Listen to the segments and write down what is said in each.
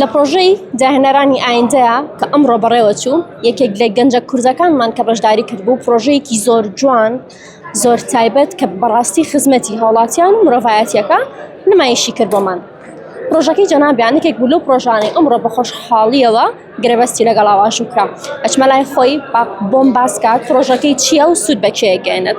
لە پڕۆژەی داهێنەرانی ئایندەیە کە ئەمڕۆ بەڕێوەچوو، یەکێک لە گەنجە کوردەکانمان کە بەشداری کردبوو، پڕۆژەیەکی زۆر جوان، زۆر تایبەت کە بەڕاستی خزمەتی هاوڵاتیان و مرۆڤایەتییەکە نمایشی کرد بۆمان. پڕۆژەکەی جەنابیان یەکێک بوو لەو پڕۆژانەی ئەمڕۆ بە خۆشحاڵییەوە گرێبەستی لەگەڵا واژوو کرا. ئەچمە لای خۆی با بۆم باس کات پڕۆژەکەی چییە و سوود بە کێ ئەگەیەنێت.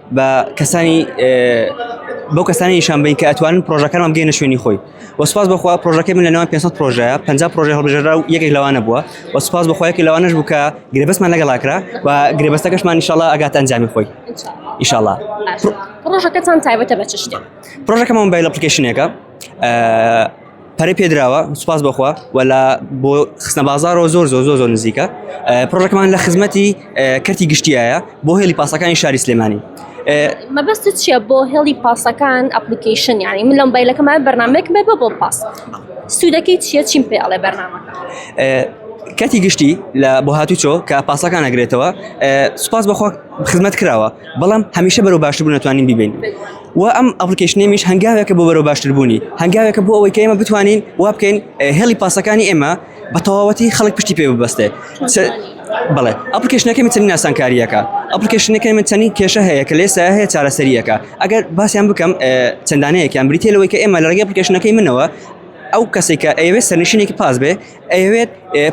بە کەسانی بەو کەسانی نیشان بین کە ئەتوانن پرۆژەکانمان بگەینە شوێنی خۆی وەسپاس بخوا پرۆژەکە من لە ناوان 500 پرۆژە 50 پرۆژه هەڵبژێرا و یەکێک لەوانە بووە وەسپاس بخوایەکی لەوانش بوو کە گرێبەستمان لەگەڵاکرا و گرێبەستەکەشمان نیشاڵا ئەگات ئەنجامی خۆی ئیشاڵا پرۆژەکەتان تایبەتە بە چ شتێک پرۆژەکەمان بای لە پلیکیشنێکە پەرەی پێدراوە سوپاس بخوا وەلا بۆ خستنە بازارەوە زۆر زۆر زۆر زۆر نزیکە پرۆژەکەمان لە خزمەتی کەرتی گشتیایە بۆ هێلی پاسەکانی شاری سلێمانی مەبەست چییە بۆ هێڵی پاسەکان ئەپلیکیشن یانی من لەم بایلەکەمان بەرنمێک بێ بە بۆ پاس سوودەکەی چیە چیم پێ ئەڵێ بەرنامە کەتی گشتی لە بۆ هاتوچۆ کە پاسەکان نەگرێتەوە سوپاس بەخۆ خزمەت کراوە بەڵام هەمیشە بەرەو باشتر بوو نتوانین بیبین و ئەم ئەپلیکەیشنەیمیش هەنگاوێکە بۆ بەرەو باشتربوونی هەنگاوێکە بۆ ئەوەی کە ئێمە بتوانین وا بکەین هێڵی پاسەکانی ئێمە بە تەواوەتی خەڵک پشتی پێ ببەستێ بڵێ ئەپلیکەشنەکە من چەند ناسانکاریەکە ئەپلیکەشنەکە من چەنی کێشە هەیە کە لێسا هەیە چارەسەریەکە ئەگەر باسییان بکەم چەندانەیەکیان بریتێلەوەی کە ئێمە لە ڕێگەی ئەپلیکەشنەکەی منەوە ئەو کەسێکە ئەوێ سەرنشینێکی پاس بێ ئەیەوێت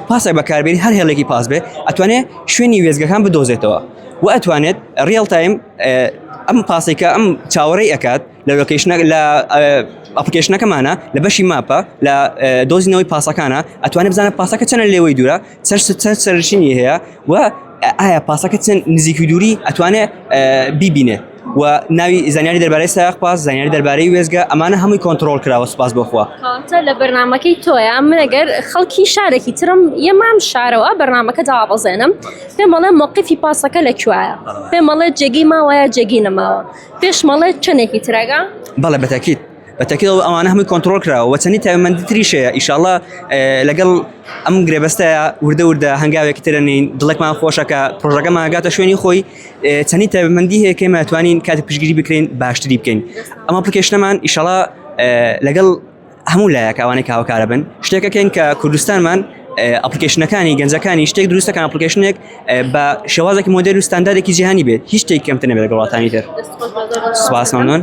پاسێک بەکاربێنی هەر هێڵێکی پاس بێت ئەتوانێت شوێنی وێزگەکان بدۆزێتەوە و ئەتوانێت ریال تایم ئەم پاسێکە ئەم چاوەڕێی ئەکات لە لۆکیشنە لە ئەپلیکیشنەکەمانە لە بەشی ماپە لە دۆزینەوەی پاسەکانە ئەتوانێت بزانە پاسەکە چەنە لێوەی دوورە سەر سەر سەرشینی هەیە و ئایا پاسەکە چەند نزیکی دووری ئەتوانێت بیبینێ وە ناوی زانیاری دەربارەی سایەق پاس زانیاری دەربارەی وێزگە ئەمانە هەمووی کۆنتڕۆڵ کراوە سوپاس بۆ خوا. کاکە لە بەرنامەکەی تۆیە من گەر خەڵکی شارێکی ترم یە مام شارەوە بەرنامەکە دابەزێنم پێم ئەڵێ مەوقیفی پاسەکە لە کوێیە پێم ئەڵێ جێگەی ماوەیە جێگەی نەماوە پێشم ئەڵێ چەندێکی ترەگە بەڵێ بە تەکید بە تەکید ئەو ئەوانە هەمووی کۆنتڕۆڵ کراوە وە چەندی تایبەتمەندی تریش هەیە ان شاء اللە ئێ لەگەڵ ئەم گرێبەستە وردە وردە هەنگاوێکی ترەنین دڵێکمان خۆشە کە پڕۆژەکەمان گاتە شوێنی خۆی چەنی تایبەتمەندی هەیە کەێمە توانین کاتێک پشگیری بکرین باشتری بکەین ئەمە پکێشنەمان ئیشەڵا لەگەڵ هەموو لایەک ئەوانەی کاوکارە بن شتێکەکەین کە کوردستانمان ئەپلیکیشنەکانی گەنجەکانی شتێک دروستەکان ئەپلیکیشنێک بە شێوازێکی مۆدل و ستاندارێکی جیهانی بێت هیچ شتێک کەمتنە بێت گەڵاتانی تر سواسمانۆن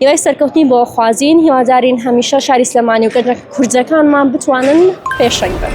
هیوای سەرکەوتنی بۆ خوازین هیوادارین هەمیشە شاری سلێمانی و گەنجە کوردەکانمان بتوانن پێشەنگ بن.